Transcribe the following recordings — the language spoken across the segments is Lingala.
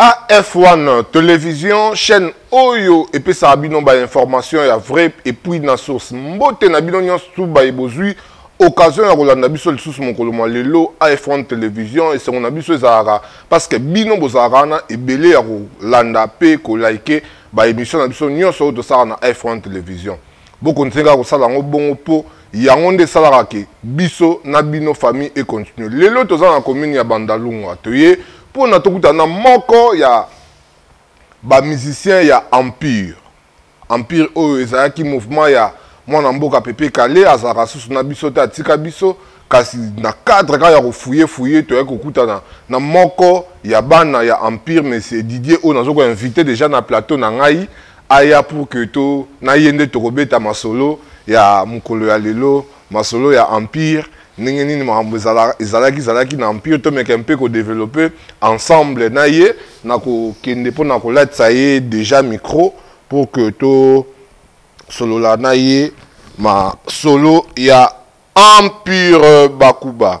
AF1 television chaîne oyo epesaka bino ba information ya vrai et puis na source. Mbote na bino nyonso tu baye bozui occasion ya kolanda biso lisusu mokolo mwa lelo AF1 television esengo na biso ezalaka parce que bino bozalaka wana ebele ya kolanda pe ko like ba emission na biso nyonso oyo tosala na AF1 television. Boko nzenga kosala yango bongo po yango nde esalaka ke biso na bino famille e continue lelo toza na commune ya bandalungwa toye mpo na tokutana na moko ya bamusicien ya empire empire oyo ezalaki mouvement ya mwana mboka pepe kale azalaka susu na biso te atika biso kasi na cadre kaka ya kofuye fuye toyaki kokutana na moko ya bana ya empire monsieur didier oyo nazokoinvite déjà na plateau na ngai aya pour que to na ye nde tokobeta masolo ya mokolo ya lelo masolo ya empire ndenge nini makambo ezalaki ezalaki na empire tomeka mpe kodevelope ensemble na ye na kokende mpo na kolatisa ye déjà micro pour que tosolola na ye masolo ya empire bakuba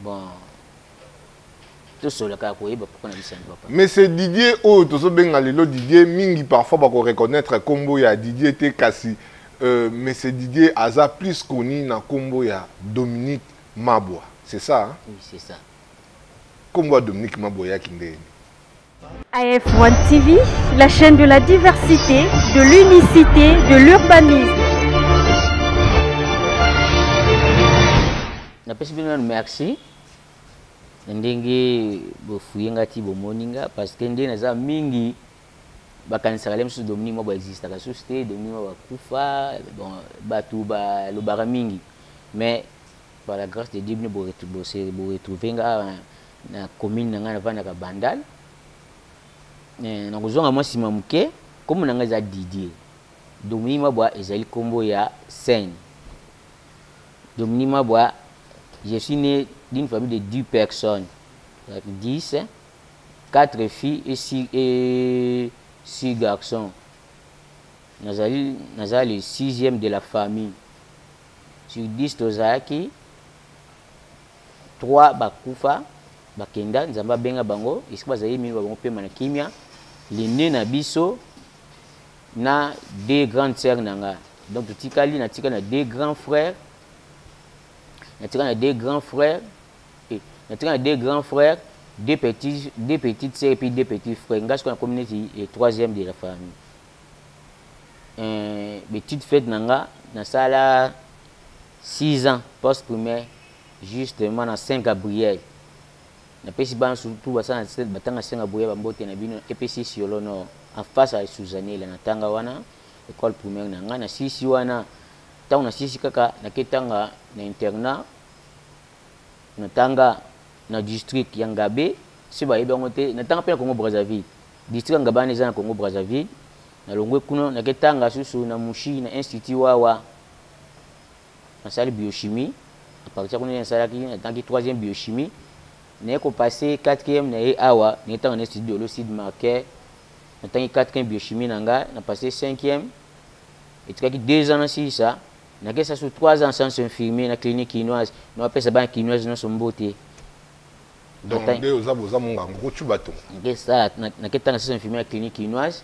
Bon. Tosola kaka koyeba pourquoi na biso papa. Mais c'est Didier oyo tozo benga lelo Didier mingi parfois ba ko reconnaître kombo ya Didier te kasi euh, mais c'est Didier aza plus connu na kombo ya Dominique Mabwa. C'est ça? Hein? Oui, c'est ça. Kombo ya Dominique Mabwa ya kindeni. AF1 TV, la chaîne de la diversité, de l'unicité, de l'urbanisme. napesi bino nanu merci na ndenge bofuye nga ti bomoni nga parce que nde naza mingi bakanisaka le mosusu dominique mwa baexistaka susu te dominique mwa bakufa bon bato balobaka mingi mais par la grâce de dieu bino boretrouve nga na commune na ngai navandaka bandal eh, nakozonga mwa nsima moke nkombo na ngai eza didie domini mabwa ezali nkombo ya seine domini mabwa je suis né d'une famille de 10 personnes 10 4 filles et 6, et 6 garçons nazali naza le sixième de la famille sur 10 tozalaki 3 bakufa bakenda nzambe abenga bango esika bazali mino bango pema na kimia lene na biso na deux grande sœur na nga donc totikali natikali na deux grand frère natikali na deux grand frère eh, natikali na deux grand frère deux petits deux petites sœurs puis deux petits frères nga sikoyo nakomi neti eh, troisième de la famille euh, petite fête na nga nasala Six ans post primaire justement na Saint Gabriel. Na pesi bana surtout basana batanga Saint Gabriel ba mbote na bino epesi siolo no en face à Suzanela na tanga wana école primaire na nga na sisi wana tango na sisi kaka na ketanga na internat na tanga na district ya Ngabe si ba yebango te na tanga pe na Congo Brazzaville district ya Ngabe na eza na Congo Brazzaville na longwe kuna na ketanga susu na Mushi na institut wawa nasali biochimie à partir kuna nasalaki natangi troisième biochimie naye kopase quatrième na ye awa naye ntango na estudi dolo sud marquet natangi quatrième biochimie na ngai na passe cinquième etikaki deux ans nasilisa nakesa su trois ans sans infirmier na clinique kinoise na bapesa bana kinoise nyonso mbote donc nde oza boza mongango kocuba to naketanga sans infirmier na clinique kinoise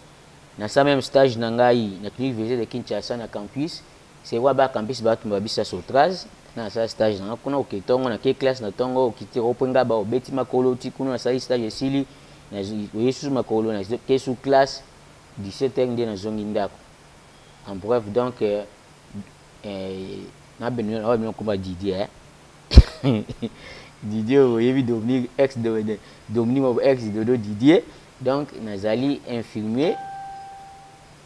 Na sa meme stage na ngai na clinique VG de Kinshasa na campus, c'est quoi ba campus ba tumba bisa sotraz, na sa stage na kuna oke tongo na ke classe na tongo okiti ope nga ba obeti makolo ti kuna na sa stage esili na yesu makolo na ke sous classe 17 heures nde na zongi ndako. En bref donc euh, euh, na bino na bino kuma Didier eh? Didier oyebi Dominique ex Dominique ex Dodo Didier Donc nazali infirmier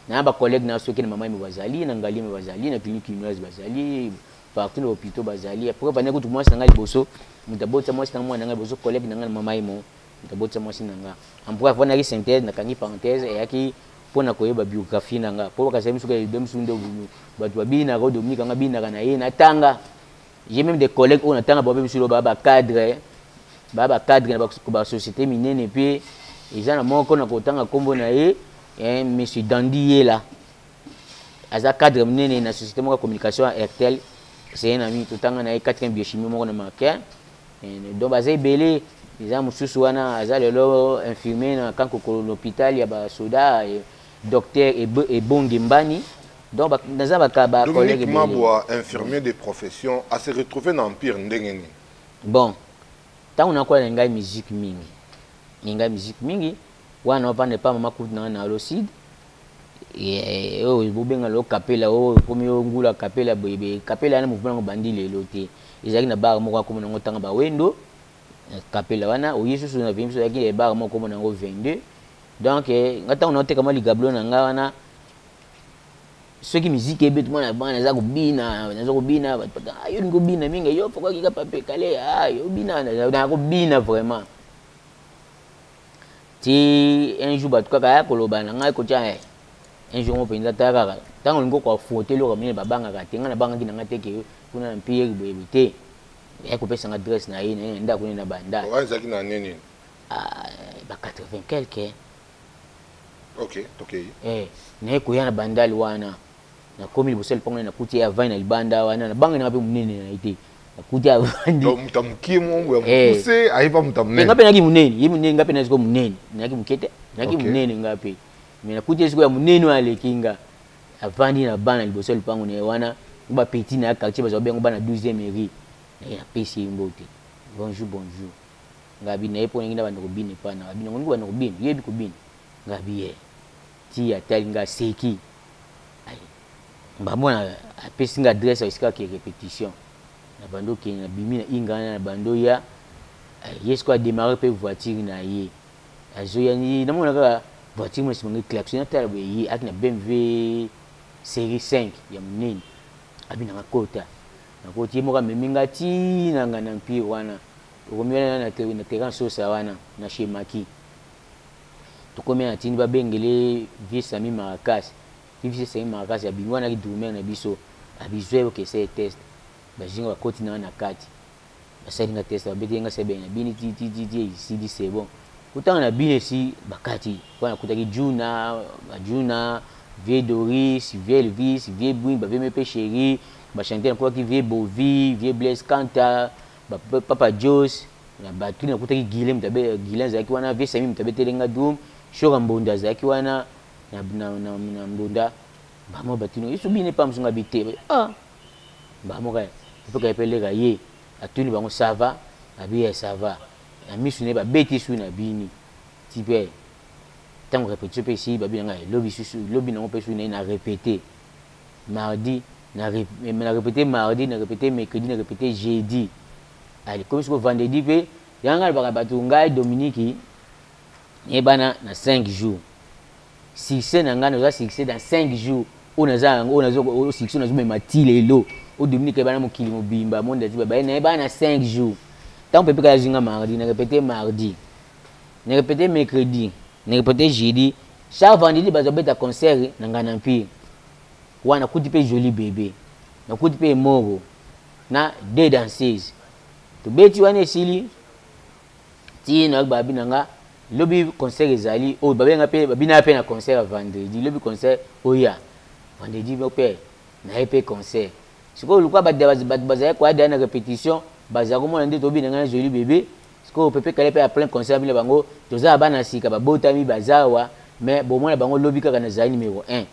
na ba collègues na soki na mama yembe bazali na ngali yembe bazali na clinique kinoise bazali partout na hôpitaux bazali après bana kutu mwasi na ngai liboso moto abotisa mwasi na mwana na ngai liboso collègue na ngai na mama yemo moto abotisa mwasi na ngai ampre afandaki synthèse nakangi parenthèse eyaki mpo na koyeba biographie na ngai mpo bakasaki misuka ebemisuku nde bato babinaka o dominique anga binaka na ye natanga J'ai même des collègues oyo natanga bango mpe misolo baa bacadre baa bacadre na basociété minene mpe eza na moko na kotanga nkombo na ye eh, monsieur dandi yela aza cadre minene na société moko ya communication ya airtel c'est un ami totanga na ye quatrième biochimie moko na macaire eh, donc baza ebele eza mosusu wana aza lelo infirmier na kankokolo na hôpital ya basoda eh, docteur ebonge mbani Donc ba naza ba ka ba collègue Dominique Mabwa infirmier de profession a se retrouver na empire ndenge nini? Bon, tango na kola ngai musique mingi. Ngai musique mingi wana na vanda pa mama kutu na na Loside. Eh, oyo bobenga lo kapela oyo komi yo ngula kapela boyebe kapela na mouvement yango bandi lelo te ezalaki na bar moko akomi nango ntanga bawendo kapela wana oye susu na vimso yaki na bar moko komi nango 22 donc eh, nga ntango naoteka mwa ligablo na nga wana soki miziki ebeti mwana bana naza kobina naza kobina batpaka ah, yo lingi obina mingi yo fokokika pape kale ah, yo obina na kobina vraiment ti un jour bato kaka ya koloba na ngai kotya eh, un jour ngo mpenza ta kaka ntango olingi koaffronte eloko minene babangaka te ngai nabangaki na ngai te ke kuna na mpiyeri boyebi te ya kopesa nga adresse na ye na ye na ndako nini na banda ah, ba 80 quelque okay tokei eh naye koya na bandal wana nakomi liboso ya lipango naye nakuti ye avandi na libanda wana nabanga nanga mpe monene na ye te nakuti avandi moto ya mokie mongo ya eh. mokuse ayeba moto ya monene nga mpe nayaki monene ye monene nga mpe nayaki sikoyo monene nayaki moke te nayaki monene nga mpe mais nakuti ye sikoyo ya monene oyo aleki nga avandi na bana liboso ya lipango na ye wana bapeti na ya quartier bazwa bango bana 12e eri napesi ye mbote bonjour bonjour Ngabi naye pona ngi na bande kobina epa na ngabi nango ngi bande kobina yo yebi kobina ngabi ye ti atali nga seki ayi mbabo na apesi nga adresse ya sika ke repetition na bando ke na bimi na inga na bando ya ye siko a démarrer pe voiture na ye azo ya ni na mona kaka voiture mo simangi klaxon na tala boye ye aki na BMW série 5 ya munene abi na nga kota na koti ye moka memi nga ti na nga na mpire wana Okomi wana na na na terrain sosa wana na chez Maki. Tokomi na tindi ba bengele vieux Sami Maracas. Ti vieux Sami Maracas ya bingo wana ki drummer na biso. A bizwe yo kese test. Ba zinga ba koti na wana na kati. Ba sali nga test ba bete nga sebe na bini ti ti ti ti esi di c'est bon. Kutana na bini esi ba kati. Kwa na kutaki Juna, ba Juna, vieux Doris, vieux Elvis, vieux Bwing, ba vieux Mepe Cheri, ba chanteur na kwa ki vieux Bovi, vieux Blaise Kanta, ba papa jos na batu nakutaki guile moto abe guile azalaki wana vie sami moto abeteli nga doum shora mbonda azalaki wana na, na, na, na mbonda bamo batuni yesu bine pa msunga bite ah bamo kaya mpe kaya mpe leka ye atuni bango sava babi ya sava na misu na ye babeti su na bini ti mpe ntango repetition mpe esili babi na ngai lobi susu lobi nango mpe su na ye na repete mardi na repete mardi na repete mercredi na repete jeudi ali komi siko vendredi mpe yango ngai alobaka bato ngai dominiki nayebana na 5 jours succès na ngai naza succès dans 5 jours oyo naza yango oyo nazo oyo succès oyo nazomema ti lelo oyo dominiki ayebana mokili mobimba monde aziba baye nayebana na 5 jours ntango pepe kaka azwi nga mardi na repete mardi na repete mercredi na repete jeudi Chaque vendredi bazo beta concert na ngana empire. Wana kuti pe jolie bebe. Na kuti pe moro na deux danseuses. Tobeti wana esili ti na babi na nga lobi concert ezali oyo babenga pe babina pe na concert ya vendredi lobi concert oya vendredi pe na ye pe concert sikoyo luka bato bazali koyada na repetition bazali komona nde tobina ngai na jolie bebe Sikoyo Pepe Kale pe a plein concert bino bango toza bana sika babotami bazawa mais bomona bango lobi kaka na zali numero 1.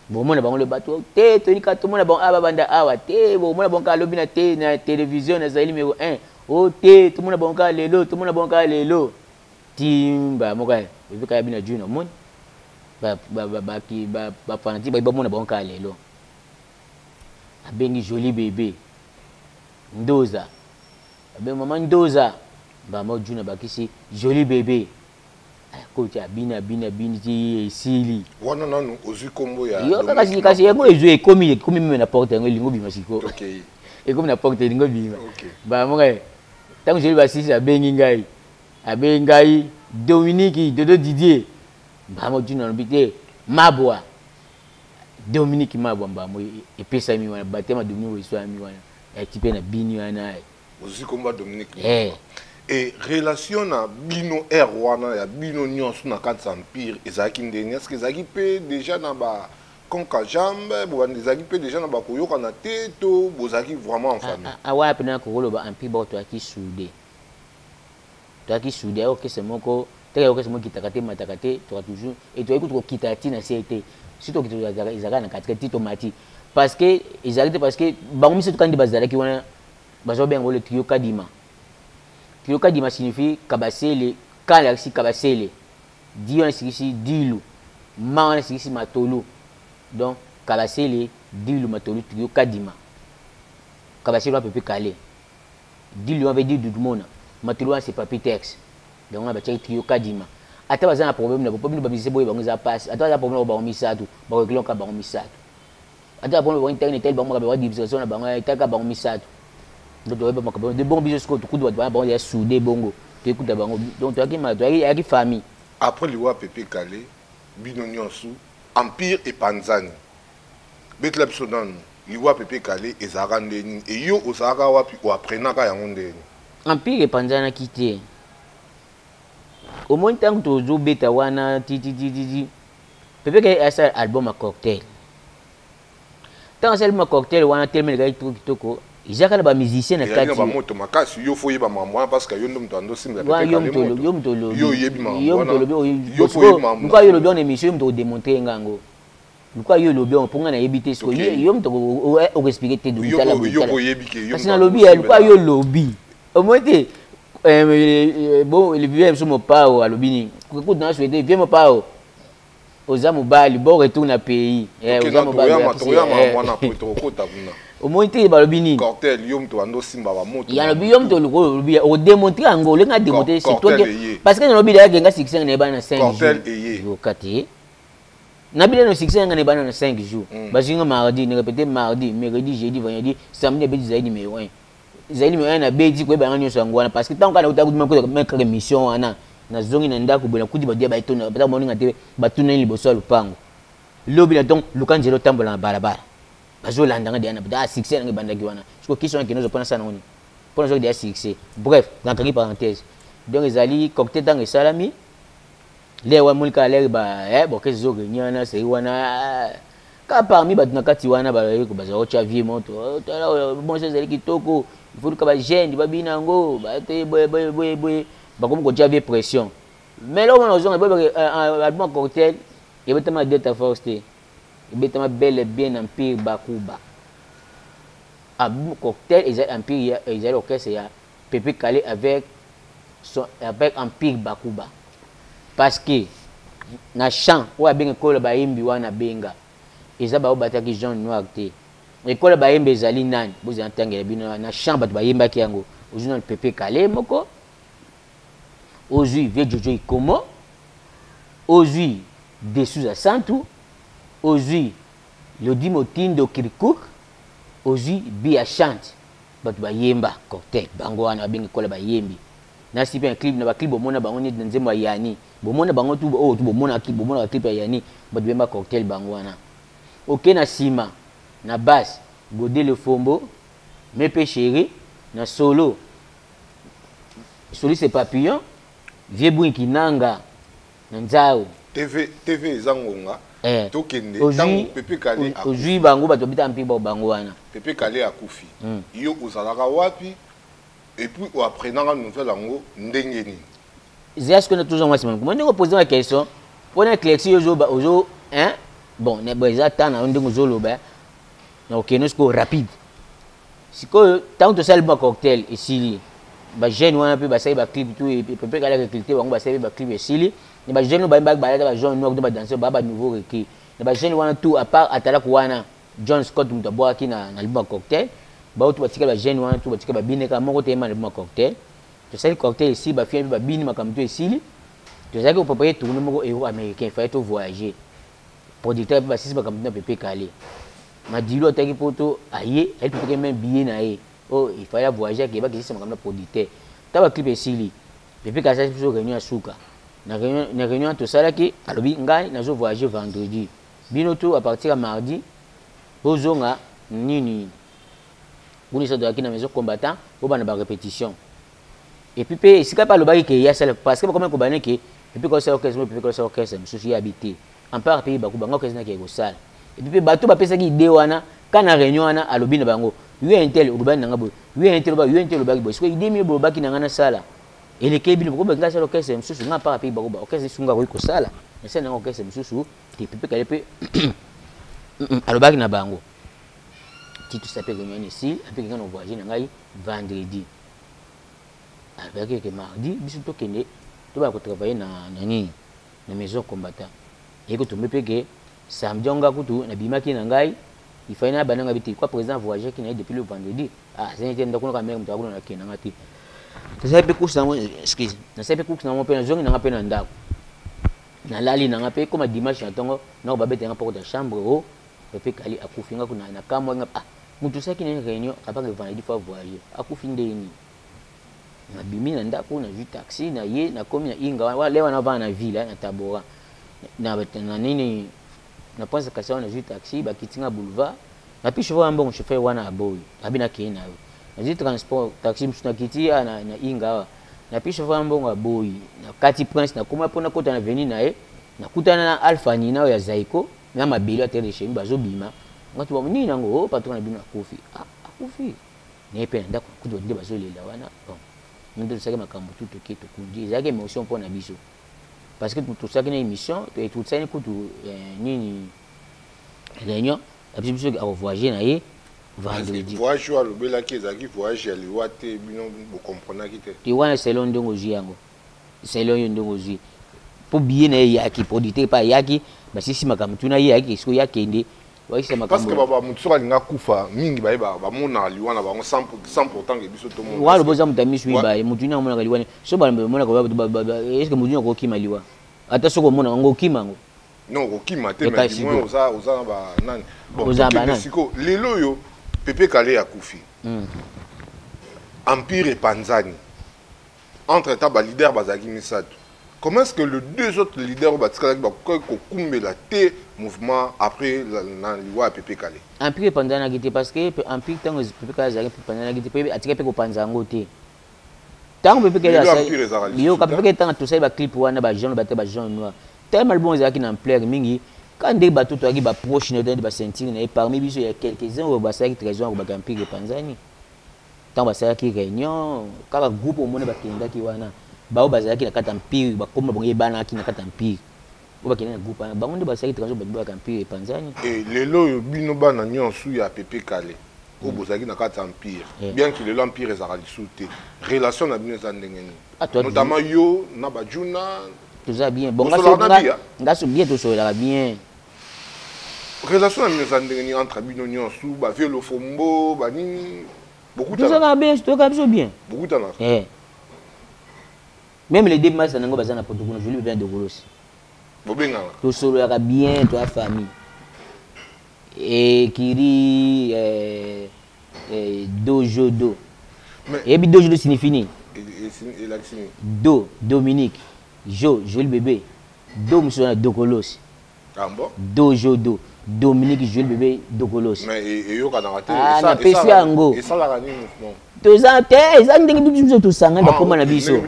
Bomona bango lobi bato te toyini kaka tomona bango aba banda awa te bomona bango kaka lobi na te na television na zali numero 1. O te tomona bango kaka lelo tomona bango kaka lelo. Timba moko ya Pepe Kale bino ajui na moni ba ba ba ba ki ba ba fanatique ba bomona bango kaka lelo. Abengi Jolie Bebe. Ndoza. Abe maman Ndoza mbala moko June abakisi jolie bebe eh, koti abini abini abini ti esili wana nanu ozwi kombo ya yo kasi kasi yango ezwi ekomi ekomi meme na porte yango elingo bima siko okay. ekomi na porte elingo bima okay. mbala moko eh, ntango jolie basisi abengi ngai abengi ngai dominiki dodo didier mbala moko June alobi te mabwa dominique mabwa mbambo epesami wana batema dominique oeswami wana ekipe na bini wana ozwi kombo ya dominique eh. e relation na bino air wana ya bino nyonso na kati ya empire ezalaki ndenge eske ezalaki mpe deja na ba konka jambe bobandi ezalaki mpe deja na bakoyokana te to bozalaki vraiment en famille awa mpe na kokoloba empire baotoyaki soude Tozalaki soude ya orchestre moko, teke ya orchestre moko ekitaka te, emataka te, toka toujours et toyaki kutu kokita ti na se te. Si tokita tozalaka ezalaka na katikati ti tomati. Parce que ezalaki te parce que bango misato kaka nde bazalaki wana bazo benga ngo le trio Kadima. Trio Kadima signifie Kabasele, Ka elakisi Kabasele, Di wana esikisi Dilu, Ma wana esikisi Matolu. Donc Kabasele, Dilu, Matolu, trio Kadima. Kabasele wapi pe kale. Diloma pe dit Dudumona, matolo wana c'est Papy Tex. Bango wana batiaki trio Kadima. Ata baza na problème na bo, po bino ba musiciens boye bango eza pasi. Ata baza na problème na bo bango misatu, ba ko regle kaka bango misatu. Ata ba problème ba tangi etali bango makambo ya division na bango, etali kaka bango misatu. Donc toyebi ba makambo de bon biso sikoyo tokutu bato wana bango deja soude bongo. Toyekuta bango. Donc toyaki ma toyaki ayaki famille. Après liwa ya Pepe Kalle, bino nionso, Empire epanzani. betela biso nanu liwa pepe kale ezalaka nde nini eyo ozalaka wapi oaprenaka yango nde nini empire epanzanaki te omoni ntango tozobeta wana tititititi pepe kale asala album ya cocktail ntango asali ma cocktail wana telema elekaki toko kitoko ezalaka na bamusicien na kati bamoto makasi yo fo oyeba makambo wana parce que yo nde moto ando osimela pepe kale moto yo oyebi makambo wana yo moto olobi oyebi makambo wana yo moto odemontre nga yango luka yo olobi yango mpo ngai nayebi te siko yo moto okoexplike te kasi nalobi ya luka yo olobi omoi te vie biso mopao alobi nini kutu na souhaite vie mopao oza mobali bo retour na pays oza mobali omoni te balobi nini yalobi yo moto olobi odemontre yango olingi ademontre surtout parce que nalobi dayake nga sikisenge na ye bana na 5 jours yoka te na bile no succès yanga ne bana na 5 jours mm. bazinga mardi ne répéter mardi mercredi jeudi vendredi samedi abeti zaidi numéro 1 zaidi numéro 1 na beti ko banga nyoso yango wana parce que tant kana uta kudima ko mettre émission wana na zongi na ndako bona kudi badia ba etona ba moninga te batuna ni liboso ya lupango lobi na donc lukanjelo tambola na balabala bazolanda nga diana bada ah, succès nange bandaki wana siko question yake nozo pona sana ngoni pona zoki dia succès bref nakangi parenthèse donc ezali cocktail tango esalami le wa mulika aleri ba eh bokesi zo renye wana seri wana eh, ka parmi bato na kati wana bazali bazali kotya vie moto oh, tala oyo bonso ezali kitoko ifotuka bagene babina yango bate boyeboyeboye bakomi kotya vie pression mais eloko mwana ozonga boyebake eh, eh, album ya cocktail ebetama delta force te ebetama bele bien empire bakuba album cocktail ezali empire ezali orchestre ya Pepe Kalle avec son avec Empire Bakuba parce que na chant oyo abenge kola bayembi wana benga eza baoyo bataki jaune noir te ekola bayembi ezali nani bozala ntangela bino na chant bato bayembaki yango ozwi nano pepe kale moko ozwi vie jojo ikomo ozwi desuza santu ozwi lodi motindo kirkuk ozwi bia chante Batu ba yemba cocktail bango wana ba bengi kola ba yembi. Na sipe na clip na ba clip bo mona bango neti na nzembo ya Yanni. Bo mona bango tout oyo tout bo mona ki bo mona ba clip ya Yanni batu ba yemba cocktail bango wana. Oke na sima na bass Gode le fombo, Mepe cheri, na solo soliste papillon, vieux Buinki Nanga. nzau tv tv eza ngonga eh. tokende ntango pepe kale ozwi bango bato babita mpe bao bango wana pepe kale akufi mm. yo ozalaka wapi epuis oapprenaka nouvelle yango ndenge nini zia sikoyo na tozwa mwasi mango mo ndenge opoze ma question mpo na clexi ozoba ozo bon eza ntan na yo ndenge ozoloba na okende sikoyo rapide sikoyo ntango tosali ba cocktail esili bajeune wana mpe basali baclip tu pepe kala recruté bango basali mpe baclip esili na bajeune oyo bayembaki balata bajeune noir to badanse baa banouveau recrue na bajeune wana tout apart atalaku wana john scott moto abwakaki na, na liba cocktail bao tu batikali bajeune wana tu batikali babine kaka moko te yemba na liba cocktail tosali cocktail esili bafia mpe babini makambo to esili tozalaki koprepare tourne moko euro américain faye to voyager producteur mpe basisi makambo na pepe kale Madilu ataki poto aye aye tutuke même billet na ye oh il fallait voyager ke bakisi sama kamna producteur ta ba clip esili pepe kasa biso réunion asuka na réunion na réunion to sala ki alobi ngai na zo voyager vendredi bino tout à partir ya mardi bozonga nini boni sa doyaki na maison combattant bobana ba répétition et puis pe esika pe alobaki ke ye asala parce que bakomi kobana ke pepe kaka osala orchestre pepe kaka osala orchestre mosusu ye abi te ampart pe bakuba nga orchestre nakeke kosala et puis pe bato bapesaki idee wana ka na réunion wana alobi na bango yo intel olobani na nga boye yo intel olobaki yo intel olobaki boye sikoyo idee mie bolobaki na nga nasala elekei bino bokomi nga asala orchestre mosusu nga ampart pe bakuba orchestre esu nga akoki kosala nasala nanga orchestre mosusu te pepe kale pe alobaki na bango titusa pe réunion wana esili ape kenga na voyage na ngai vendredi alobaki ete mardi biso tokende tobaya kotravaille na, na nini na maison combattant eye kotombe mpe ke samedi yango ngai kutu nabimaki na ngai ifai na bananga bite kwa président avoyagaki na ye depuis le vendredi ah, azangi te ndako naka mare moto akuna nakenda nga te nasali mpe course nango excuse nasali mpe course nango mpe nazongi nanga mpe na ndako nalali nanga mpe ekoma dimanche na ntongo nako babeta nga mpo kota chambre o oh, pepe kali akufi nga kuna nakamwa nga ah mutu osalaki na réunion akabaka evandredi fois voyage akufi ndenge nini nabimi na ndako nazwi taxi na ye nakomi na inga wana le wana avana na ville eh, na tabora na nini na prince kasi wana nazwi taxi bakiti nga boulevard napi chauffeur wana mbongo chauffeur wana aboyi abi nakei na yo nazwi transport taxi mosusu nakiti ya na, na inga awa napi chauffeur wana mbongo aboyi nakati prince nakoma mpo nakota na veni na ye Nakutana na Alpha Nina oyo ya Zaiko na mabele ya Terre de Chemi bazo bima. Nga tu ba nini nango oh patron na bino akufi. Ah akufi. Na pe na ndako kutu ba nde bazo lela wana. Bon. Nous tous saki makambo tout toke tokundi ezalaki émotion mpo na biso parce que tosaki na émission toetutisani kutu euh, nini réunion abisi biso akovoyage na ye vendredi voyage oyo alobelaki ezalaki voyage ya liwa te bino bocomprenaki te te wana selon ndenge ozwi yango selon yo ndenge ozwi mpo biye na ye eyaki produit te epai ayaki basisi makambo tuna ye ayaki esiko ye akende bakisa makambo moto soki alinga kufa mingi baye bamonaka liwa na bango sans pourtant ke biso tomonwa lobo eza moto ya miso mibaye moto ini amonaka liwa so bamonaka eske moto ini okokima liwa ata soki omonaka ngo okima yango non okokima te mais du moins oza oza na ba nani bon oza ba nani siko lelo yo pepe kale akufi hmm. empire epanzani Entre temps ba leader bazalaki misato. Comment est-ce que les deux autres leaders batikalaki bakokaki kokumbela te mouvement après na liwa ya Pepe Kale? Empire epanzanaki te parce que empire ntango Pepe Kale azalaki epanzanaki te mpe atikaki mpe kopanza yango te. Ntango Pepe Kale asali biyoka Pepe Kale ntango tosali ba clip wana ba jaune ba te ba jaune noir tellement album ezalaki na ampleur mingi quand nde bato toyaki baproche na ye toyaki basentire na ye parmi biso ya quelques-uns oyo basalaki trahison ya kobaka empire epanzani ntango basalaki reunion kaka groupe omoni bakendaki wana baoyo bazalaki na kati ya mpire bakomi bango ebanaki na kati ya mpire oyo bakende na groupe wana bango nde basalaki transo babibolaka mpire epanzani e eh, lelo oyo bino bana nyonso ya pepe kale oyo mm. bozalaki na kati ya mpire eh. bien ki lelo mpire ezalaka lisusu te relation na bino eza ndenge nini ah, notamment yo na bajuna toza bien bon ngaso bien tosolelaka bien relation na bino eza ndenge nini entre bino nyonso ba vieux lofombo ba nini bokutana biso toyoka biso bien bokutana eh même les deux masa nango baza na poto kuna joli bien de golosi bobengana tosololaka bien to ya famille ekiri eh, eh, dojo do eyebi dojo do signifie nini elakisi nini do dominique jo joli bebe Do mosusu wana dokolosi. Ah bon? Do jo do. Dominique Jules bebe dokolosi. Mais e, eyokanaka te. Ah, na pesi yango. Esalaka nini non? toza te eza ndenge bitu biso tosangani ah, bakoma na biso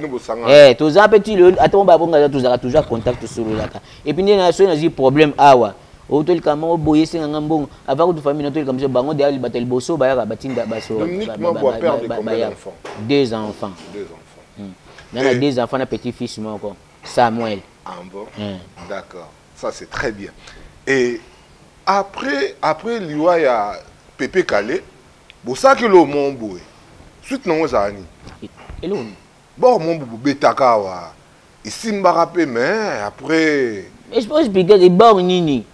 eh, toza mpe ti lelo ata mo babonga tozalaka toujours contact tosololaka epuis nde na soki nazwi problème awa otolika moko boye esenga nga mbongo avant kutu famille na tolika biso bango deya libata liboso bayaka batinda baso deux enfants nana deux enfants na petit fils moko Samuel. Ah bon? Mm. D'accord. Ça c'est très bien. Et après après liwa ya Pepe Kale, bosaki lo momboe. Suite nango ezala nini? Eloni. Bon mombo bobetaka awa. Esimbaka pe mais après Je pense bigel e bor nini?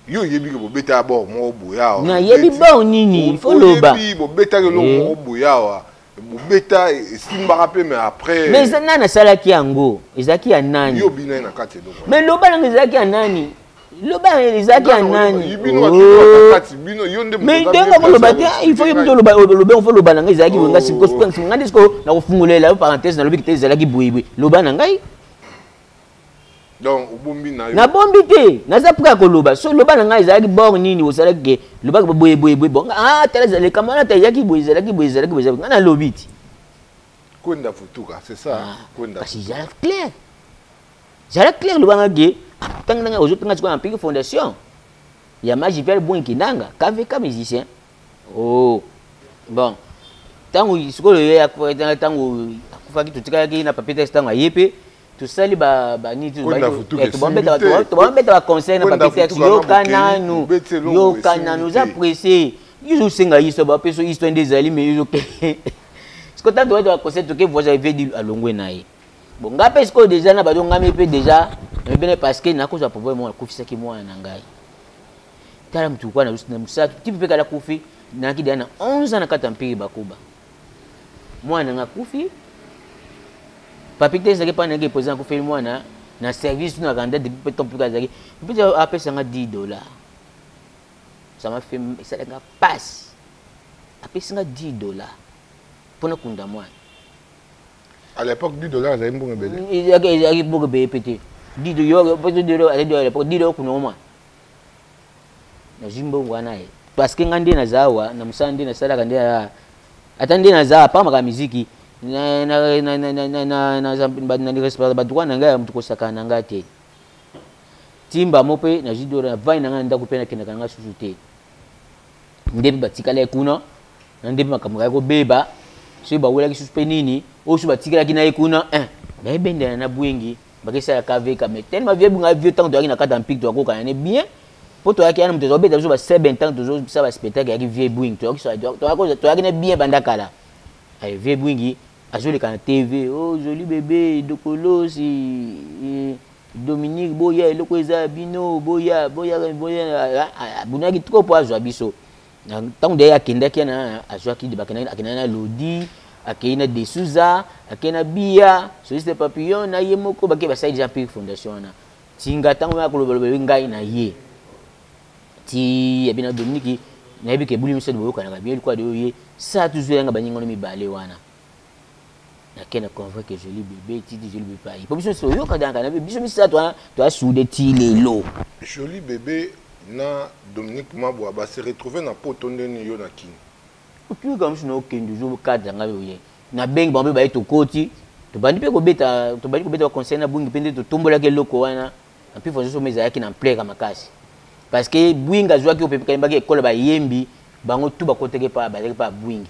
Yo yebi ke bobeta bor moko boya awa. Na yebi bor nini? Fo loba. Yebi bobetaki lo moko boya awa. bobeta esimbaka mpe mais après mais eza nani asalaki yango ezalaki ya nani yo bina ye na kati eloko mais loba nanga ezalaki ya nani loba nanga ezalaki ya nani mais ndenge akoloba te il faut yebi toloba olobe ofo loba na ngai ezalaki boye ngai sikoyo ngai nde sikoyo nakofungolela yo parenthèse nalobi kite ezalaki boyeboye loba na ngai donc obombi na yo nabombi te naza prêt ya koloba so loba na ngai ezalaki bor nini osalaki ke lobaki boye boye boye bon ah tala likambo wana tayaki boye ezalaki boye ezalaki boye ngai nalobi ti kwenda futuka c'est ça ah, kwenda kasi zala clair zala clair loba ngai ke ntango ndenge ozotanga sikoyo na piki fondation ya magi vial boin kindanga kvk musicien oh bon ntango sikoyo ye akufaki ntango akufaki totikalaki na papier test ntango aye mpe tosali banitobabeta baconseil na babetaki yoka nanu yoka nanu oza presse izo osenga histoire bapesa histoire nde ezali me izo siko ntango tobeta baconseil toke voyage avedi alongwe na ye bon ngai mpe sikoyo deja na bado ngami mpe deja ebene parce que nakozwa problème moko nakufisaki mwana na ngai tala motu kwa na mosala tipe mpe kala kufi nayaki deja na 11 ans na kati ya mpiri bakuba mwana na nga akufi papi te ezalaki epai na yeke président akufeli mwana na service na randa depuis peut temps mpe azalaki mpe apesa nga 10 dollar ça m'a fait esalaki nga passe apesi nga 10 dollar mpo nakunda mwana à l'époque 10 dollar azalaki mbongo ebele ezalaki mbongo ebele mpe te 10 dollar à l'époque 10 dollar okunda mwana nazwi mbongo wana ye parce que ngai nde naza awa na mosala nde nasalaka nde ata nde naza apa makambo miziki badroit na ngai ya moto kosakana na ngai te timba mo mpe nazwi dola navandi na ngai na ndako mpe nakendaka na ngai susu te nde mpe batikala ye kuna na nde mpe makambo kaki kobeba soki bawelaki susu mpe nini oyo susu batikalaki na ye kuna eh, nayebendana na bwengi bakisa ya kave kame tellement vieux bunga vieux temps toyaki na kata mpik toyakokana ne bien mpo toyaki yana moto tozobeta biso ba 7 temps tozobisa ba spectacle yaki vieux bwing toyaki ne bien banda kala eh, vieux bwingi azoleka na tv o oh, joli bebe dokolosi eh, dominique boya eloko eza ya bino boya boya boya abunaki trop mpo azwa biso Na tango de akendaki na azwaki de bakendaki akendaki na Lodi, akei na De Souza, akei na Biya, Soliste Papillon na ye moko bake basali déjà Pure Fondation wana. Tinga tango ya koloba loba ngai na ye. Ti ya bina Dominique nayebi ke buli miso boyokanaka bien likola de ye sa tuzwela nga baninga no mibale wana. nake na convoi ke joli bebe titi joli bebe ayi po biso nyonso toyoka danka na biso misato wana toya sude ti lelo joli bebe na dominique mabwa base retrouve na poto nde nini yo na kini otuyoka miso na okende ozo cadre ngai oye nabengi bango mpe baye tokoti tobandi mpe kobeta tobandi kobeta baconseil na bungi mpe nde totombolaki eloko wana mpe façon somo ezalaki na mpleka makasi parce que bwingi azwaki oyo mpe kayembaki ekolo bayembi bango tu bakotaki epa bazalaki mpe abwingi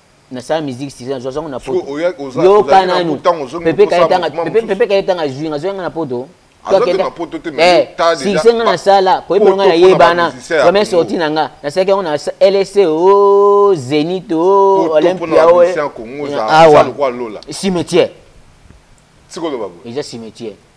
nasala musique sisa nazwa zango na poto yoka nanu pepe kaye tanga azwi nga azwaki nga na poto eh, succès nga nasala koyebelo nga nayebana première sorti na nga nasalaki yango na lsc o oh, zenit o oh, olympia o oh, eh. awa cimetière eza cimetière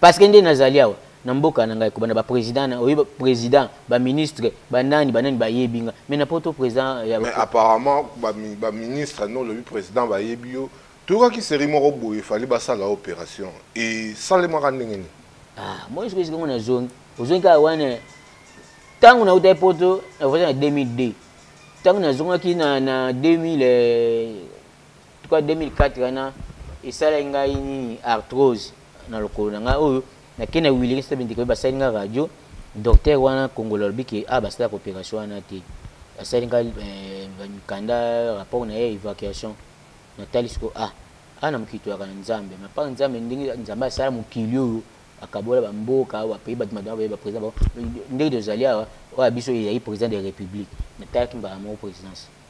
parce que nde nazali awa na mboka na ngai kobanda bapresident na oyebi président baministre banani banani bayebi nga mais na poto président ya mais apparemment baministre no olobi président bayebi yo toyokaki série moko boye efali basala opération esalemaka ndenge nini ah, moi soki esikango na zongi ozongi kaka wana ntango nautaki poto nakozala na 2002 ntango nazongaki na 2000 tout cas 2004 wana esalaki ngai nini arthrose na lokolo na ngai oyo nakei na wiliki soto bindika oyo basali ngai radio docteur wana kongolo alobi ke a ah, basalaka opération wana te asali ngai eh, mikanda rapport na ye évacuation natali siko a ah, a ah, na mokili toyaka na nzambe mapaka nzambe ndenge nzambe asala mokili oyo akabola bamboka bapayi bato madama baye baprésident bango ndenge tozali awa oyo ya biso ezali président de république natalaki mbala moko présidence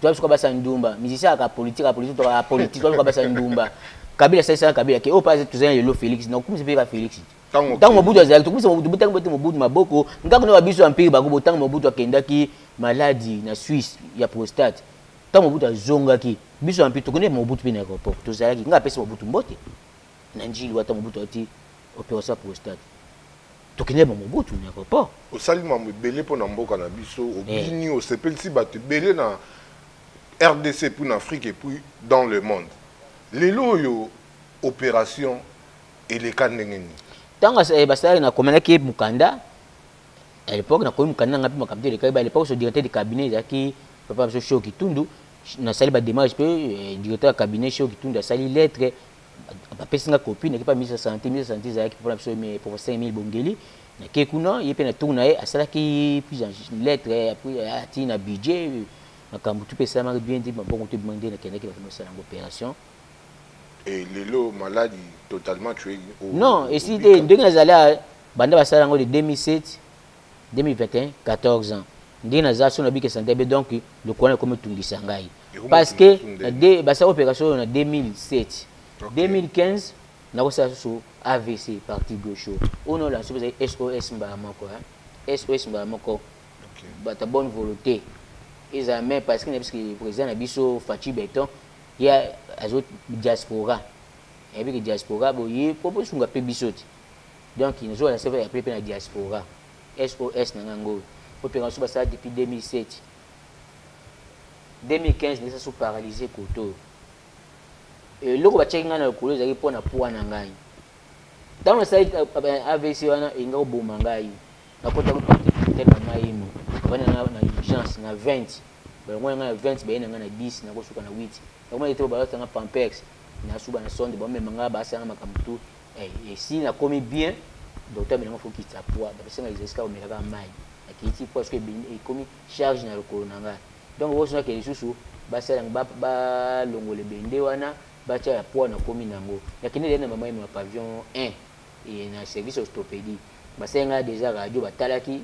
Toi suka basa ndumba, musicien aka politique, aka politique, aka politique, toi suka basa ndumba. Kabila sasa sasa Kabila ke opa tu zanya yolo Felix, na kumisa pe ka Felix. Tango Mobutu azali, to kumisa Mobutu, botanga bote Mobutu maboko, ngako na babiso empire bako botanga Mobutu akendaki maladi na Suisse ya prostate. Tango Mobutu azongaki, biso empire to kende Mobutu pe na aéroport, to zalaki, nga pesa Mobutu mbote. na njili wata mobutu ati operation prostate tokende ba mobutu na aéroport osali mambo ebele mpo na mboka na biso eh. obini hey. osepelisi bato ebele na rdc epuis na afrique epuis dans le monde lelo oyo opération eleka ndenge nini ntango eh, basalaki na komelaki mokanda à l'époque nakomi mokanda nanga mpe makambo te elekaki ba à l'époque so directeur de cabinet ezalaki papa biso show kitundu nasali badémarche mpe eh, directeur ya cabinet show kitundu asali lettre bapesi nga copie nakepa ministre ya santé ministre ya santé ezalaki mpona biso professeur emile bongeli nake kuna ye mpe natour na ye asalaki prise en lettre atii na budget makambo tu mpe esalamaki bien te mabongo to ebima nde nakendaki bato mosala yango opération et lelo maladi totalement tu non esili te ndenge nazali banda basala yango de 2007 2021 14 ans ndenge naza so nabiki sante be donc lokola ekomi tungisa ngai parce que basala operation oyo na 2007 2015 nakosala susu avc parti gauche oyo naolanso mpe ezali sos mbala moko sos mbala moko bata bonne volonté ezala mai parce que na biso président na biso faci beton ye azo diaspora ayebi ke diaspora boye mpo bosunga mpe biso te Donc nzoa na save appeler pe na diaspora. SOS na nga ngoyo. Po peka su basala depuis 2007. 2015 nesa su paralyser koto. Eloko ba check nga na lokolo ezali po na poids na ngai. Tango na sali AVC wana inga oboma ngai. Na kota ko porte porte na ngai mo. Bana na na urgence na 20. Ba ngo nga na 20 ba yena nga na 10 na ko suka na 8. Ba ngo ete ba lota nga pampex. Na suba na sonde ba mema nga ba sanga makambo tout. Eh, esi nakomi bien docteur amelanga fo kitisa poids bapesi ngai exercice kaka omelaka mai nakiti poids soki ekomi charge na lokolo na ngai donc bozonake lisusu basalanga balongola ebende wana batya ya poids nakomi na yango nakende lei na mama ino ya pavion 1 e na service ostopédie basali ngai déjà radio batalaki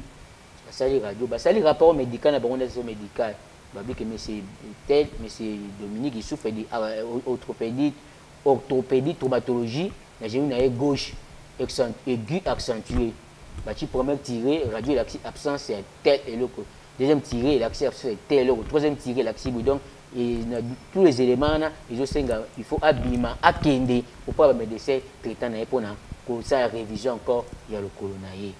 basali radio basali rapport médical na bango ndasi médical babike monsieur tel monsieur dominique isufedi ah, euh, orthopédite orthopedie, traumatologie, na genou na ye gauche aigu accentue, batie première tire, radio elakisi absence ya tel eloko, deuxième tire elakisi absence ya tel eloko, troisième tire elakisi boye donc et na tous les éléments wana ezosenga il faut abima akende auprès ba médecin traitant na ye mpona kosala révision encore ya lokolo na ye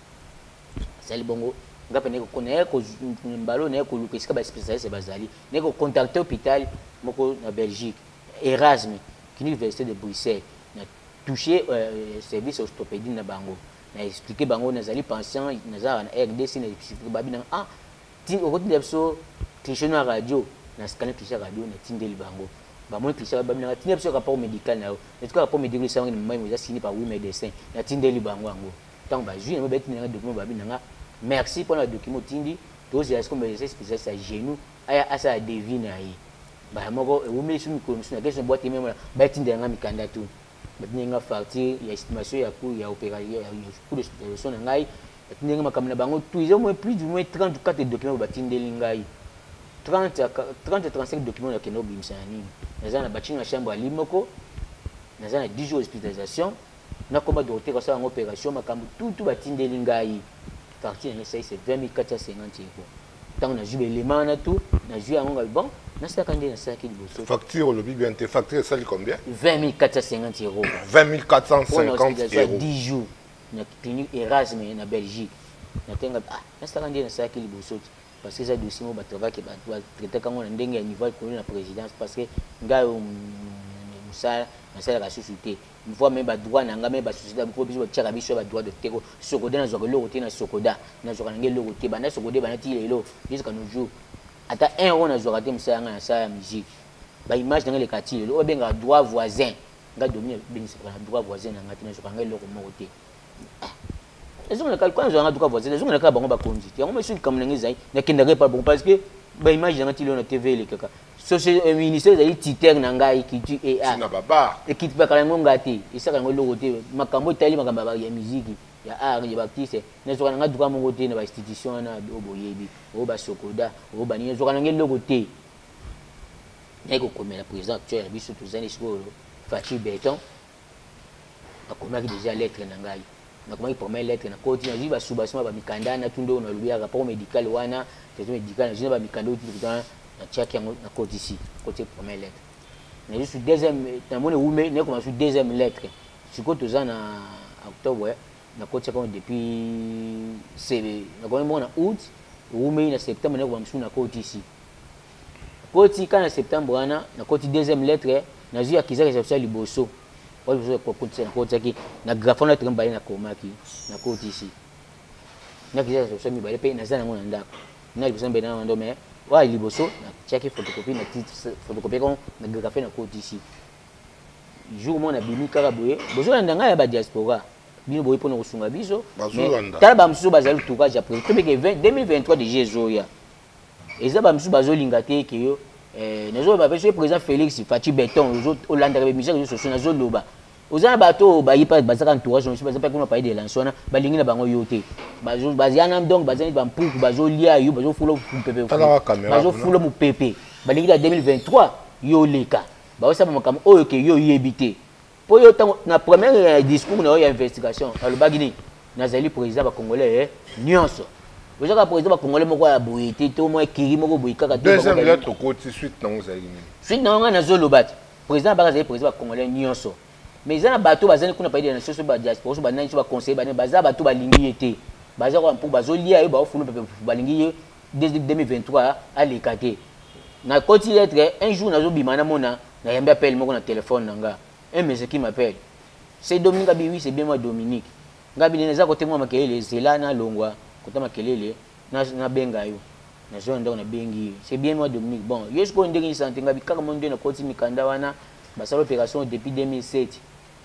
asali bongo nga mpe naye naye mbalo naye koluka esika ba spécialiste bazali naye kocontacte hôpital moko na belgique Erasme, Kniveste de Bruxelles, na touche euh, service ostopedie na bango. Na expliquer bango na zali pension, na zala na RDC, na expliquer babi na ah, tin oko tinda biso cliché na radio, na scanner cliché radio, na tindeli bango. Ba moins cliché babi na tinda biso rapport médical na yo. Na tika rapport médical isa wangi na maman moza signé par oui médecin, na tindeli bango yango. Tant ba jui na ba tinda na document babi na merci pour na document tindi, tozi ya skombe spécialiste à genoux, aya asa ya devine aye. mbala moko ewumeli so mikolo mosusu nakei na bwate ye mema batindela ngai mikanda tu batindeli ngai facture ya estimation ya coût ya coût d'hospitalisation na ngai batindeli ngai makambo na bango tu eza moins plus du moins 30 ou 4 document oyo batindeli ngai 30 à 30 à 35 document nakenda kobimisa na nini naza na batinga na chambre ya lit moko naza na 10 jours hospitalisation nakoma docteur asala yango operation makambo tutu batindeli ngai facture yango esaisi 20450 euro ntango nazwi baelema wana tu nazwi yango ngai bon nasalaka nde nasalaki liboso facture olobi bien te facture esali combien 20450 euro 20450 euro 10 jours na clinique erasme na belgique natenga ah nasalaka nde nasalaki liboso ti parce que eza dossier moko batravaki batraitaka yango na ndenge ya niveau ya likolo na présidence parce que ngai mosala nasalaka susu te mvua me ba droit na nga me ba société ya po biso ba tiaka biso ba droit de teko sokoda na zwaka eloko te na sokoda na zwaka na nga eloko te banda sokoda banda ti lelo jusqu'à nos jours ata un euro na zwaka te mosala nga na sala ya musique ba image na nga eleka ti lelo oyo bengaka droit voisin nga domine bengisaka na droit voisin na nga te na zwaka nga eloko moko te ezongela kaka na zwaka nga droit voisin ezongela kaka bango bakonzi te yango mesu likambo na nga ezali nakendaka epa bango parce que ba image na nga ti lelo na tv elekaka société euh, ministère ezali titere na ngai culture ea ekitibaka yango ngai te esaka yango eloko te makambo etali makambo ya miziki ya art ya baartiste nazwaka na ngai duka moko te na bainstitution wana oyo boyebi oyo basokoda oyo banini nazwaka na ngai eloko te naye kokomela président actuel ya biso tozali sikoyo faci beton nakomaki deja lettre na ngai nakomaki première lettre na koti nazwi basubasima bamikanda natunda oyo nalobi ya rapport médical wana traitement médical nazwi na bamikanda oyo tututana natiaki yango na koti si koti première lettre nazwi su deuxième namoni wume nakoma su deuxième lettre sikoyo toza na octobre nakotiaka yango depuis sebe nakomaki moko na août ewumeli na septembre nakoma mosusu na koti si Po tika na septembre wana na koti deuxième lettre na zui akizaka eza ya liboso. Oyo liboso ko kotisa na kotisaki na grapho na trimba na komaki na kotisi. Na kizaka eza ya mibale pe na zana ngo na ndako. Na liboso mbele na ndo mais oyo liboso na tiaki photocopie na titre photocopie ko na grapho na kotisi. Jour mona bimi kaka boye bozo na ndanga ya ba diaspora. bino boyi mpona kosunga biso tala bamosusu bazali tourage ya president tobeke 2023 deja ezoya eza ba misusu bazo linga te ke yo eh, nazo loba pe soki président Félix Fatshi Beton ozo olanda ba musique ozo soso nazo loba oza na bato ba yipa bazaka entourage ozo baza pe kuna paye de lance wana ba lingi na bango yo te bazo bazia na donc bazali ba mpuku bazo lia yo bazo fulo mpepe bazo fulo mupepe ba lingi la 2023 yo leka ba osaba makambo oyo ke yo yebi te mpo yo ntango na première ya discours na yo ya investigation alobaki nini nazali président bacongolais eh, nyonso ozaka président bacongolais moko ya boye te to mwa ekiri moko boye kaka deuxième lettre okoti suite nango ozalaki nini suite nango ngai nazoloba te président abaka azali président bacongolais nyonso mais eza na bato bazali kuna paide na soso badiaspora so banani so baconseille bane baza bato balingi ye te baza kwa mpo bazolia ye baofulu pepe balingi ye 2023 aleka te nakoti lettre un jour nazobima namona Nayambi appel moko na telephone na nga. Un monsieur qui m'appelle. C'est Dominique Abi, oui, c'est bien moi Dominique. Nga bile naza kote mwa makelele, zela na longwa kota makelele, na, na benga yo. Na zona ndako na bengi ye. C'est bien moi Dominique. Bon, yo sikoyo ndenge ni sante nga bi kaka mon na koti mikanda wana basala opération depuis 2007.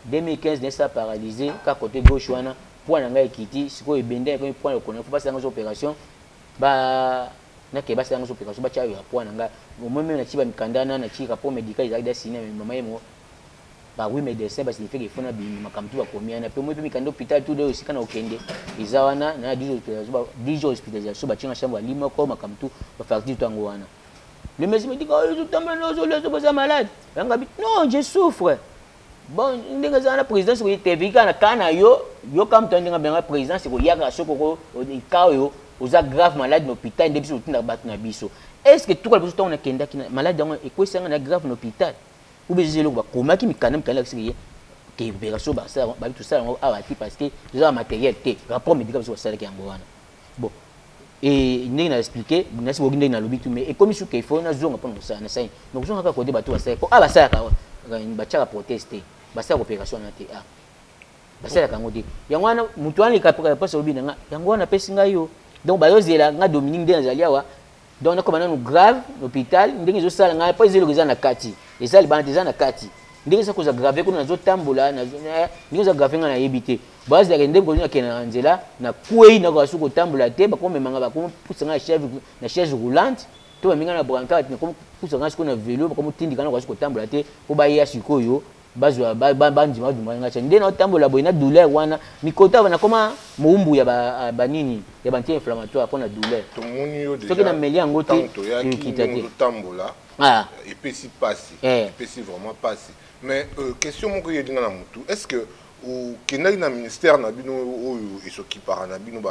2015 n'est ça paralysé ka côté gauche wana point na nga ekiti sikoyo ebenda ekomi point lokona faut basala ngo opération ba na ke basi yango sopeka so bacha ya poa na nga au moins même na chiba mikanda na na chika po medical ezali da signer mais maman yemo ba oui médecin ba signifie que fona bimi makambo tu bakomi yana pe moi pe mikanda hôpital tout deux esika na okende eza wana na 10 jours hospitalisation ba 10 jours hospitalisation ba chinga chambre ali moko makambo tu ba facture tu yango wana le médecin me dit que oh, yo zo tambela na zo lezo boza malade yanga bi non je souffre bon ndenge eza wana présidence ekoyitebiki kaka na kaa na yo yo kaka moto ndenge abengaka présidence ekoyaka soki oko ka oyo oza grave malade na hôpital nde biso totindaka bato na biso est ce que tuka liboso ntango nakendaki malade yango ekwesanga na grave na hôpital obe eza eloko bakomaki mikanda mikanda yakisiki ye ke opération basala babi tosala yango awa ti parce que toza na matériel te rapport médical biso basalaki yango wana bon et ndenge na expliquer na si bogi ndenge na lobi tout mais ekomi suka il faut na zonga pona mosala na saini na kozonga kaka kote bato basala po ah basala ka batiaka proteste basala cooperation na te ah basalaka yango te yango wana moto wana leka mpasi olobi na nga yango wana apesi ngai yo donc bayozela nga dominique nde nazali awa donc nakoma nanu grave na hôpital ndenge ezosala ngai mpo eza eloko eza na kati eza libanda te eza na kati ndenge eza koza grave kuna nazotambola ndenge eza grave ngai nayebi te bazalaka ndenge kozi nakenda na nzela nakwei nakoka soki kotambola te bakomema ngai bakomopusa ngai na chaise roulante to baminga na brancard nakomopusa ngai sikoyo na velo bakomotindika nakoka soki kotambola te mpo baya sikoyo bazwa bandima badumaka ngai nde natambola boye na douleur wana mikota wana nakoma mowumbu ya banini ya banti inflammatoire mpo na douleur soki nameli yango te ekita te ah. epesi mpasi eh. epesi vraiment mpasi mais euh, question moko eyeli nga na motu est ce que okendaki na ministère na bino oyo esokipaka na bino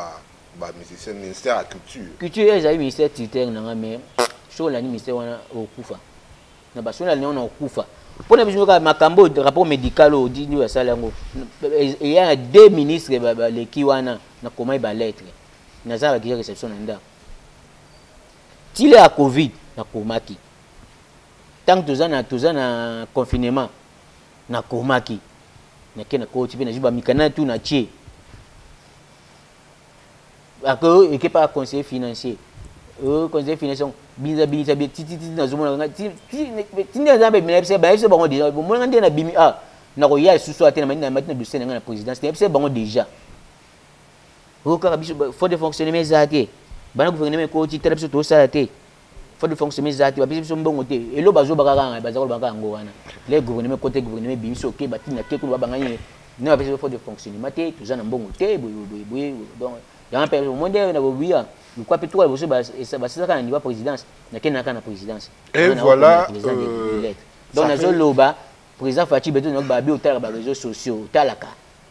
bamusicien ministère ya culture culture ezali ministère tuteur na nga mais soki olandi ministère wana okufa na basoni alingi na kokufa mpo na biso kaka makambo oyo rapport médical oyo odi ndio asali yango eya na deux ministre baleki wana nakomaki balettre naza bakija réception na ndako tile ya covid nakomaki ntango toza na toza na confinement nakomaki nake nakoti mpe nazwi bamikanda tu na tie ako eke pa conseiller financier euh, conseiller financier binza binisa bi titi titi nazomona nga tindi aza mpe na biso bayebisa bango déjà bomona nga nde na bimi ah nakoya lisusu ate na matina matina dossier na nga na présidence na yebisa bango déjà oyo oh, kaka biso faute de fonctionnement eza te bana gouvernement ekoti tala biso tosala te Faut de fonction mais zati bapesi biso mbongo te elo bazoba kaka ngai baza koloba kaka yango wana le gouvernement kote gouvernement ebimi so oke batini na te kuna babangani ye ne bapesi biso faut de fonctionnement te toza na mbongo te boye boye boye donc yango mpe omoi nde na bobiya lokwa mpe tokola liboso basilaka na niveau présidence nakendaka na présidence et voilà euh, donc nazoloba président faci beto nayoki babi otalaka bareseau sociaux otalaka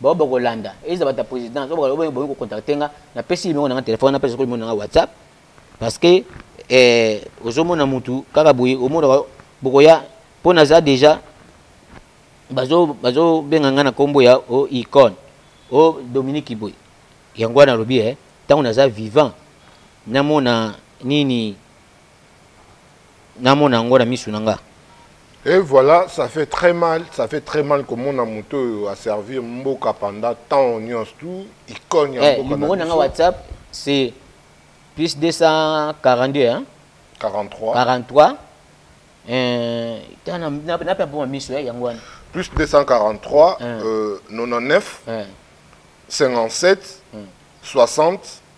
bao bakolanda eza bato ya présidence oyo bakoki boyi kocontacte nga napesi limeko na nga telefone napesa soko limeko na nga whatsapp parce que eh, ozomona mutu kaka boye omonaka bokoya mpo naza déjà bazobenga ngai na nkombo ya o oh, icone o oh, dominique boye yango wana alobi e eh, ntango naza vivant namona nini namona yango na misu na nga Et voilà, ça fait très mal, ça fait très mal que mon amoto a servi Mboka pendant tant de tout, icône ya eh, Mboka. Numéro na WhatsApp c'est plus 242 hein. 43 43 euh tana na na pe bon miso ya yango wana. Plus 243 euh 99 57 60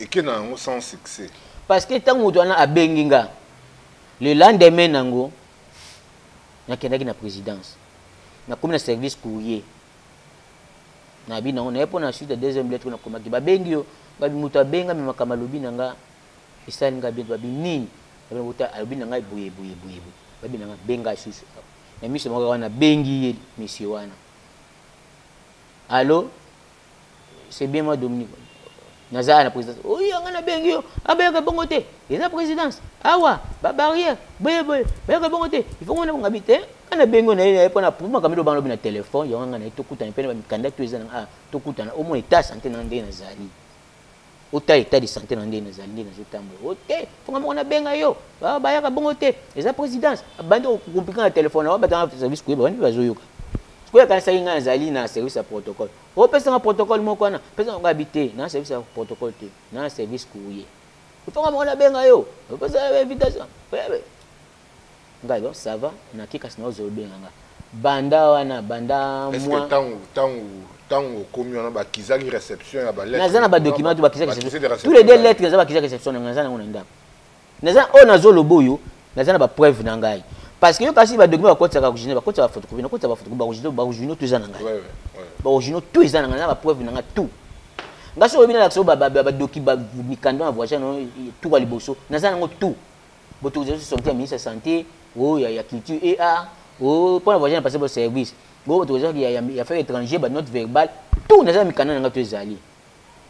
eke na yango sans succès parce que ntango moto wana abengi nga le lendemain nango nakendaki na présidence nakomi na service courrier nayebi nango naye mpo na suite ya deuxième lettre oyo nakomaki babengi yo babi moto abengami makambo alobi na nga esali nga bien babi nini ota alobi na ngai boye boye boye boye babi na nga benga susu na miso moko wana bengi ye monsieur wana alo c'est bien moi Dominique naza à la présidence oui yanga na bengi yo abayaka ah, bongo te eza présidence awa ah, ba barrière boye boye bayaka bongo te il faut ngona ngabi te ana bengi yo na ye mpo na puma kambi lobana lobi na telefone yango nga na ye tokutana mpe na bamikanda to eza na ah, tokutana au moins eta sante na ndenge nazali ota etat de santé na ndenge nazali ndenge nazotambola o oh, te fonga moko nabenga yo ah, bayaka bongo te eza présidence abandi kokomplike na telefone yango batanga service koyeba wani mpe bazoyoka sikoyo akanisaki ngai nazali na service ya protocole opesanga oh, protocole moko wana pesanga ngabi te na service ya protocole te na service courrier fonga moko nabenga yo opesa invitation ngai bon ça va na ki kasi naozo obenga nga banda wana banda moi tangu tangu tangu okomi wana bakizaki réception ya ba lettres naza na ba documents bakizaki réception tous les deux lettres naza bakizaki réception na naza nango na ndako naza oyo oh, nazo lobo yo naza na ba preuve na ngai parce que yo kasi ba documents bakotisaka original bakotisaka photocopie nakotisa ba photocopie ba original ba original tout eza na ngai ba original tout eza na ngai na ba preuve na ngai tout ngai soki oyebi nalakisa yo ba ba ba doki ba mikanda na voyage na tout liboso naza nango tout Boto zali sorti ya ministre ya santé, oh ya ya culture et art, oh pona voyage na passer pour service. Bo boto zali ya ya affaires étrangères, ba notes verbales, tout na za mikanda na nga to ezali.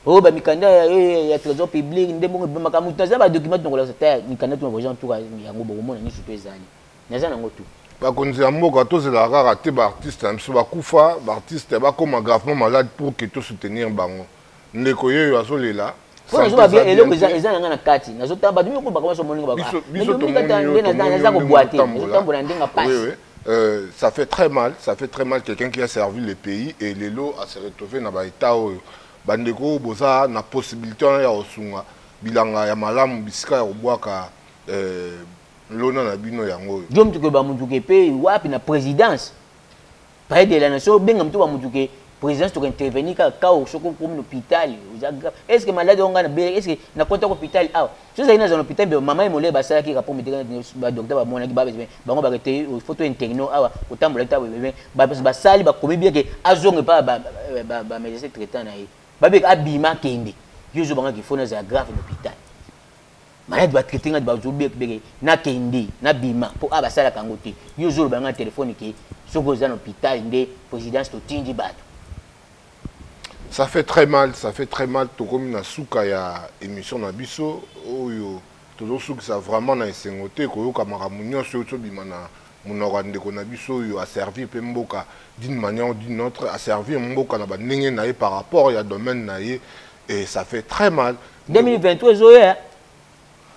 Oh ba mikanda ya eh, ya trésor public nde bongo ba makamu na za ba documents na kola sa ta mikanda to na voyage en tout cas yango bongo mona ni surtout ezali. Na za na ngo tout. bakonzi ya mboka tozelaka kaka te baartiste na biso bakufa baartiste bakóma gravement malade pour ke tosoutenir bango ndeko yeyo azolela mpo nazoba bia eloko eza na ngai na kati nazotala bato miyoko bakoma so moninga bakoaza kobwate nazotambola ndenge mpasi Euh, ça fait très mal, ça fait très mal quelqu'un qui a servi le pays et lelo a se retrouver na ba état oyo. Bandeko boza na possibilité ya osunga bilanga ya malamu bisika ya kobwaka euh, lona na bino yango oyo. Diom tukoyeba mutu ke pe wapi na présidence Près de la nation, benga mtu wa mtu ke présidence toka intervenir kaka kao soko komi na hôpital oza grave est ce que malade yango ngai na bele est ce que na kota ko hôpital awa so ezalaki nazala na hôpital mpe mama ye molai basalaki rapport médical ba docteur bamonaki ba bango bake te il faut to interno awa otambolaki ta bebe basali bakomi bien ke azonga epa ba médecin traitant na ye babeka abima kende yo ozobangaki fo nazala grave na hôpital maladi batraite ngai bazobekbeke nakende nabima mpo a basalaka yango te yo ozoloba ngai na telefone ke soki oza na hôpital nde présidence totindi bato ça fait très mal ça fait très mal tokomi na suka ya émission na biso oyo tozosukisa vraiment na esengo te koyoka makambo nyonso oyo tozobima na Munoko ya ndeko na biso oyo a servir pe mboka d'une manière ou d'une autre, a servir mboka na ba ndenge na ye par rapport ya domaine na ye et ça fait très mal. 2023 ezoya hein.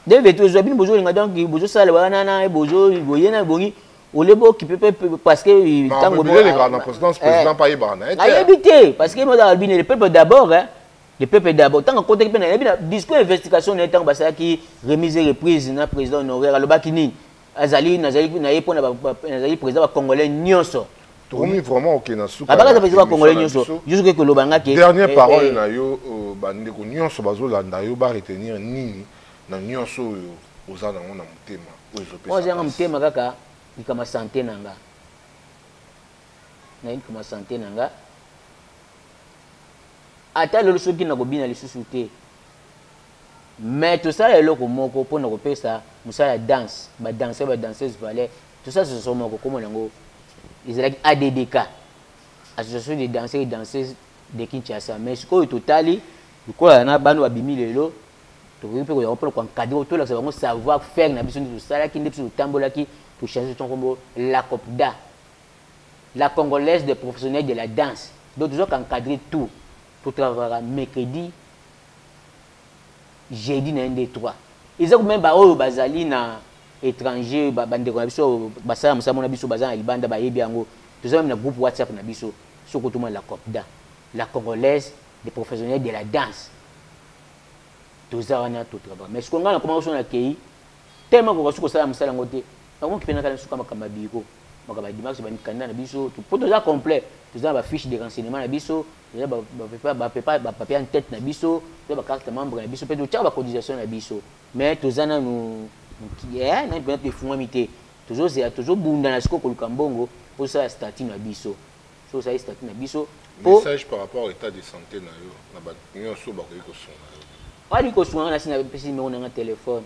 2023 ezoya bino bozolinga donc bozosala wana na bozo boye na bongi ole bokipe pe parce que ntango eleka na présidence président mpe ayebaka na ye te ayebi te parce que mozala bino le peuple d'abord hein le peuple d'abord ntango akotaki mpe nayebi na discours investigation na ye ntango basalaki remise et reprise na président honoraire alobaki nini azali nazali na ye mpo nazali président ba congolais nyonso tokomi vraiment oke na suka abakata président ba congolais nyonso jusuke koloba nga ke dernière eh, parole eh. na yo euh, bandeko nyonso bazolanda yo baretenir nini na nyonso oyo oza nango na motema oyo ezopesanga motema kaka likama sante na nga nayebi likama sante na nga ata lelo soki nakobina lisusu te Mais tosala eloko moko pona kopesa musala ya danse, ba danseurs, ba danseuses, valeur. Tosala association moko kombo nango ezalaki ADDK, Association des danseurs et danseuses de Kinshasa. Mais sikoyo totali lokola na bana babimi lelo tokoki mpe koyaka mpona koencadre tolakisa bango savoir faire na biso nde tosalaki nde biso totambolaki tochange to nkombo la copda la congolaise de professionnel de la danse donc tozwaka encadre tout totravaka mercredi Jeudi na ye nde 3. Eza meme ba oyo bazali na etranger ba bandeko na biso basala mosala mona biso baza na libanda bayebi yango toza meme na groupe WhatsApp na biso soko tuma la copda la congolaise des professionnels de la danse toza wana to travail mais siko ngai na koma osona kei tellement koka suko sala mosala yango te na komoki pena kala suka makamba biko makamba dimanche ba mikanda na biso po toza complet toza na ba fiche de renseignement na biso Deja ba ba pepa ba pepa ba papier en tête na biso, to ba carte membre na biso pe to tchaka ba cotisation na biso. Mais to za nanu mukie eh na bino efungwami te. To zo zela to zo bunda na siko ko luka mbongo po sala statut na biso. So sali statut na biso po Message par rapport etat de sante na yo na ba nioso ba koki ko sunga yo. Ba li ko sunga na si na pesi numero na nga telephone.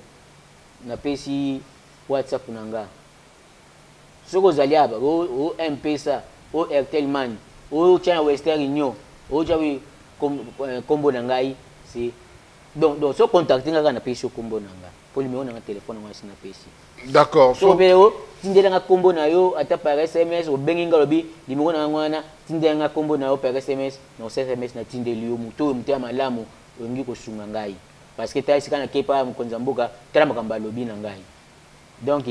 Na pesi WhatsApp na nga. Soki ozali aba o o mpesa o Airtel money o tia na Western Union o tia wi kom eh, kombo na ngai si donc donc so contacte nga kaka na pesi yo kombo na nga po numero na nga telephone ngo asi na pesi d'accord so pe o tindela nga kombo na yo ata par SMS o bengi nga lobi numero na nga wana tindela nga kombo na yo par SMS na o SMS na tindeli yo muto muto ya malamu olingi ko sunga ngai parce que ta esika na kepa mukonza mboka tala makambo alobi na ngai donc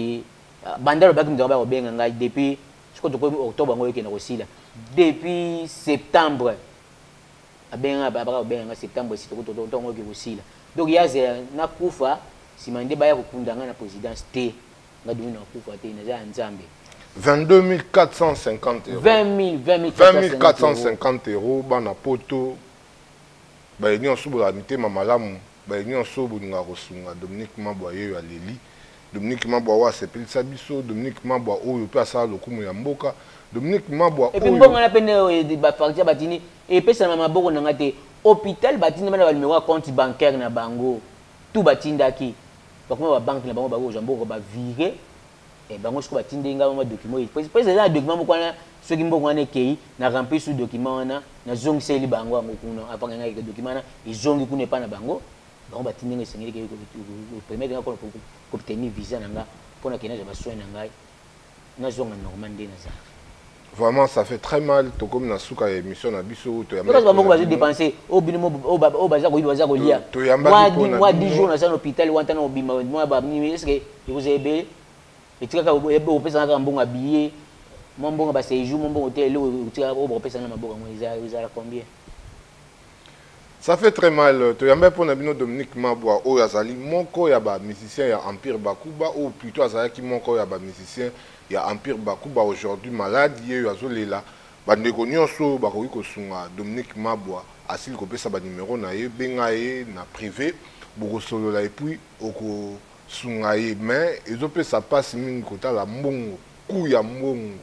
banda alobaki moto yango bakobenga ngai depuis sikoyo tokomi octobre yango ekende kosila depuis septembre abenga ngai baka kobenga ngai septembre esi tokotongo oke kosila donc ye azela nakufa nsima nde baya kokunda ngai na présidence te ngai dungu nakufa te naza ya nzambe 22 450 euros 20 450 euros bana poto Baye nionso bozala mitema malamu, baye nionso bolingaka kosunga Dominique Mabwa yeyo aleli, Dominique Mabwa oyo asepelisa biso, Dominique Mabwa oyo pe asala lokumu ya mboka, Dominique Mabwa oyo. Et puis mbongo wana pe nde oyo ba facture batindi epesana na maboko na nga te, hopital batindi bana ba numero ya compte bancaire na bango tout batindaki, bakoma ba banque na bango bakozwa mbongo ba virer Eh bango siko batindeli nga mwa document oyo pesa eza na document moko wana soki mbongo wana ekei na rempli su document wana nazongiseli bango yango kuna avanga ngai ke document wana ezongi kuna epai na bango bango batindi nga esengeli ke permettre nga kobtenir visa na nga mpo na kende nazwa basoin na ngai nazonga normal nde nazalaka Vraiment, ça fait très mal. Tokomi na suka ya émission na biso to yamba. Parce que bango bazo dépenser au bino au au baza ko yiba baza ko lia. To yamba moi di moi 10 jours na sa hôpital wanta na obima moi ba ni est-ce que vous avez bé et tu ka ebe opesa na mbongo billet moi mbongo ba séjour moi mbongo te le tika o opesa na maboko moi ils ont combien Ça fait très mal. Toyamba pona bino Dominique Mabwa oyo azali moko ya ba musiciens ya Empire Bakuba ou plutôt azalaki moko ya ba musiciens ya Empire Bakuba aujourd'hui malade yeyo azolela bandeko nyonso bakoki kosunga Dominique Mabwa asili kopesa ba numero na ye benga ye na privé bokosolola et puis okosunga ye mais ezopesa pasi mingi kotala mbongo coût ya mbongo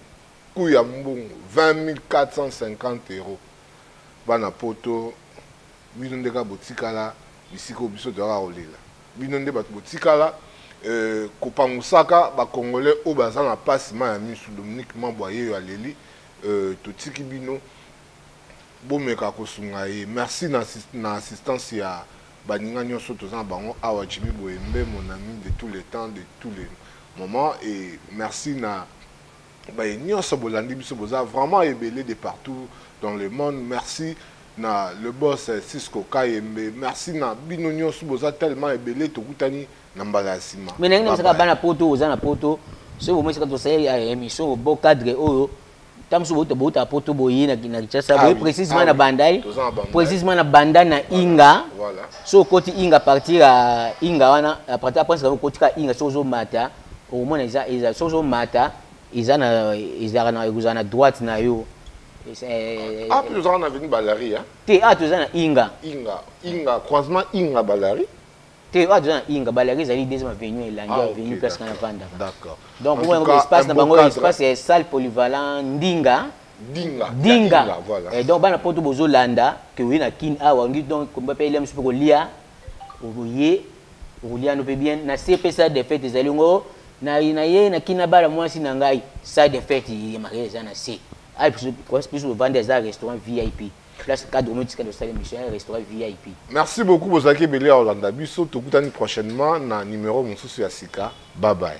coût ya mbongo 20450 euros Bana poto bino nde kaka botikala bisika oyo biso toyaka kolela bino nde bato botikala euh, kopangusaka bacongolais oyo baza na pasi ma ya misu dominique mabwa yeyo aleli euh, totiki bino bomeka kosunga ye merci na, na assistance ya baninga nyonso toza na bango awa jimi boyembe mon ami de tous les temps de tous les moments et merci na baye nionso bolandi biso boza vraiment ebele de partout dans le monde merci na le boss eh, Cisco Kayembe merci na bino nionso boza tellement ebele tokutani na mbala ya sima mais nangi namsaka bana poto oza na poto soki bomesaka tosali eh, émission bo cadre oyo ntango mosusu bouta bouta poto boye na kinshasa ah boye précisement ah na bandai précisement na banda na inga so okoti inga partir ya inga wana apres okoti ka inga soki ozomata okomona eza eza soki ozomata eza na ezalaka na ekozala na droite na yo ape eh, ah, eh, tozalaka na veni balari te a ah, toza na inga inga inga croisement inga balari te oyo aza na inga balaki ezali deuxième avenue elandi ah, avenue place kana vandaka d'accord donc omona yango espace na bango espace ya salle polyvalent ndinga dinga dinga voilà et donc bana poto bozolanda ke oye na kin awa ngi donc komba pe elem sope kolia okoye Ruliano pe bien na se pe sa defete ezali ngo na na ye na kina bala mwasi na ngai sa defete ye mariage eza na se ai plus plus ovandi eza restaurant VIP place cadre omo tika dosala émission ya restaurant VIP merci beaucoup bozalaki ebele ya olanda biso tokutani prochainement na numéro mosusu ya sika bye bye